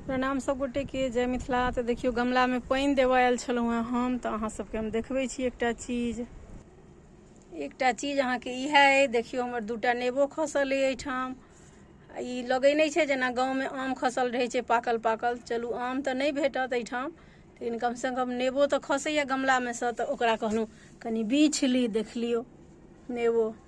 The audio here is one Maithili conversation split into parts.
प्रणाम सभ गोटे के जय मिथिला तऽ देखियौ गमला मे पानि देबऽ आयल छलहुँ हेँ हम तऽ अहाँ सभके हम देखबै छी एकटा चीज एकटा चीज अहाँके इएह अइ देखियौ हमर दूटा नेबो खसल अइ एहिठाम आ ई लगै नहि छै जेना गाँवमे आम खसल रहै छै पाकल पाकल चलू आम तऽ नहि भेटत एहिठाम लेकिन कमसँ कम नेबो तऽ खसैए गमलामे सँ तऽ ओकरा कहलहुँ कनि बीछ ली देख लियौ नेबो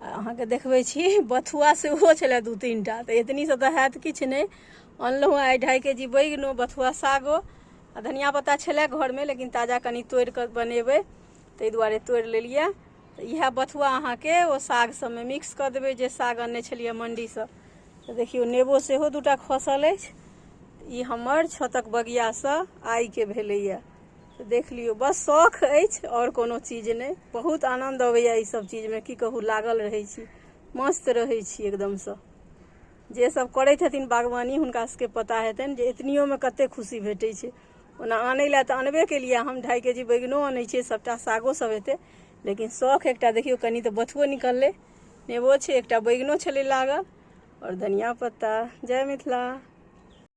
अहाँके देखबै छी बथुआ सेहो छलए दू तीन टा तऽ एतनीसँ तऽ हैत किछु नहि अनलहुँ आइ ढाइ के जी बैगनो बथुआ सागो आ धनिया पत्ता छलए घरमे लेकिन ताजा कनि तोड़ि कऽ बनेबै ताहि दुआरे तोड़ि लेलियै तऽ इएह बथुआ अहाँके ओ साग सभमे मिक्स कऽ देबै जे साग अनने छलियै मण्डीसँ तऽ देखियौ नेबो सेहो दूटा खसल अछि ई हमर छतक बगियासँ आइके भेलैए देख लियौ बस शौख अछि आओर कोनो चीज नहि बहुत आनन्द अबैया ई सब चीजमे की कहू लागल रहै छी मस्त रहै छी एकदमसँ जे सब करै छथिन बागवानी हुनका सबके पता हेतनि जे एतनियोमे कते खुशी भेटै छै ओना आनै लए तऽ अनबे केलियै हम ढाई के जी बैगनो अनै छियै सबटा सागो सब हेतै लेकिन शौख एकटा देखियौ कनि तऽ बथुओ निकललै नेबो छै एकटा बैगनो छलै लागल आओर धनिया पत्ता जय मिथिला